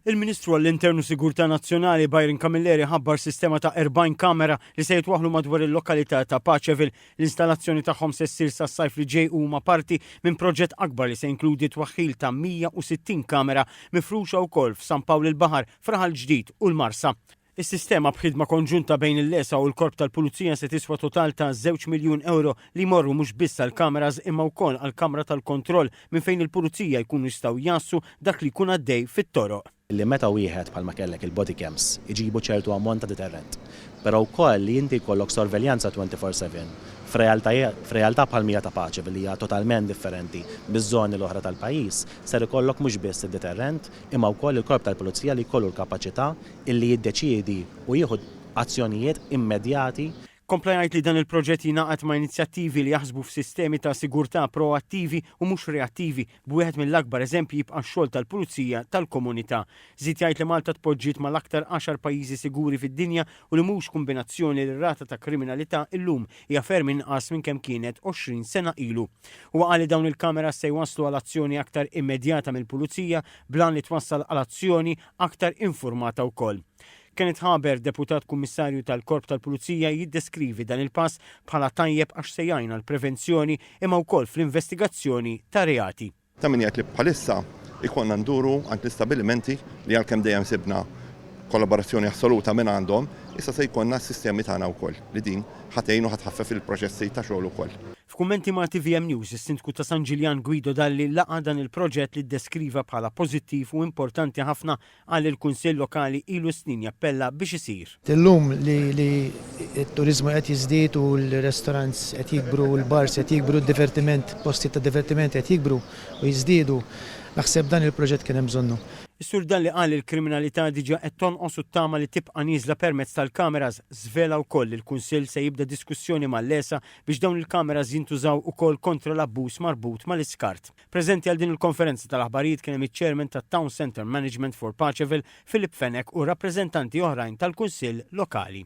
Il-Ministru għall-Intern u Sigurtà Nazzjonali Byron Camilleri ħabbar sistema ta' 40 kamera li se jitwaħħlu madwar il-lokalità ta' Paceville. L-installazzjoni tagħhom se ssir sas-sajf li ġej u huma parti minn proġett akbar li se jinkludi t-twaħħil ta' 160 kamera mifruxa wkoll f'San Pawl il-Baħar, f'Raħal Ġdid u l-Marsa. Is-sistema b'ħidma konġunta bejn il-LESA u l-Korp tal-Pulizija se tiswa total ta' żewġ miljun ewro li jmorru mhux biss għall-kameras imma wkoll għall-kamra tal-kontroll minn fejn il-pulizija jkunu jistgħu jgħassu dak li jkun għaddej fit-toroq. li meta wieħed bħalma kellek il-bodycams iġibu ċertu ammont ta' deterrent. Però wkoll li inti jkollok sorveljanza 24 seven f'realtà bħal Mira ta' Paċi li hija totalment differenti miż-żoni l-oħra tal-pajjiż ser ikollok mhux biss id-deterrent imma wkoll il-Korp tal-Pulizija li jkollu l-kapaċità illi jiddeċiedi u jieħu azzjonijiet immedjati. Kompla jgħid li dan il-proġett jingħaqad ma' inizjattivi li jaħsbu f'sistemi ta' sigurtà proattivi u mhux reattivi, b'wieħed mill-akbar eżempji jibqa' x-xogħol tal-Pulizija tal-Komunità. Żied jgħid li Malta tpoġġiet mal-aktar għaxar pajjiżi siguri fid-dinja u li mhux kumbinazzjoni li r-rata ta' kriminalità illum hija ferm inqas minn kemm kienet 20 sena ilu. Huwa qal li dawn il-cameras se jwasslu għal azzjoni aktar immedjata mill-Pulizija bl-għan li twassal għal azzjoni aktar infurmata wkoll. Kenneth Haber, Deputat Kummissarju tal-Korp tal-Pulizija jiddeskrivi dan il-pass bħala tajjeb għax se jgħin għall-prevenzjoni imma wkoll fl-investigazzjoni ta' reati. Ta' min jgħid li bħalissa jkollna nduru għand l-istabbilimenti li għalkemm dejjem sibna kollaborazzjoni assoluta minn għandhom, issa se jkollna s-sistemi tagħna wkoll li din ħa tgħin u ħa tħaffef il-proċessi ta' xogħol ukoll. F'kummenti ma' tvm News, is-Sindku ta' San Ġiljan Guido Dalli laqa' dan il-proġett li ddeskriva bħala pożittiv u importanti ħafna qal li l-Kunsill Lokali ilu snin jappella biex isir. Illum li li t-turiżmu qed jiżdied u l-restaurants qed jikbru u l-bars qed jikbru d-divertiment, postijiet ta' divertiment qed jikbru u jiżdiedu, naħseb dan il-proġett kien hemm bżonnu. Is-Sur Dalli qal li l-kriminalità diġà qed tonqos u ttama li tibqa' nieżla permezz tal-cameras, żvela wkoll li l-Kunsill se jibda diskussjoni mal-LESA biex dawn il-kameras jintużaw ukoll kontra l-abbuż marbut mal-iskart. Preżenti għal din il-konferenza tal-aħbarijiet kien hemm iċ-Chairman tat-Town Centre Management for Paceville, Philip Fenech u rappreżentanti oħrajn tal-Kunsill Lokali.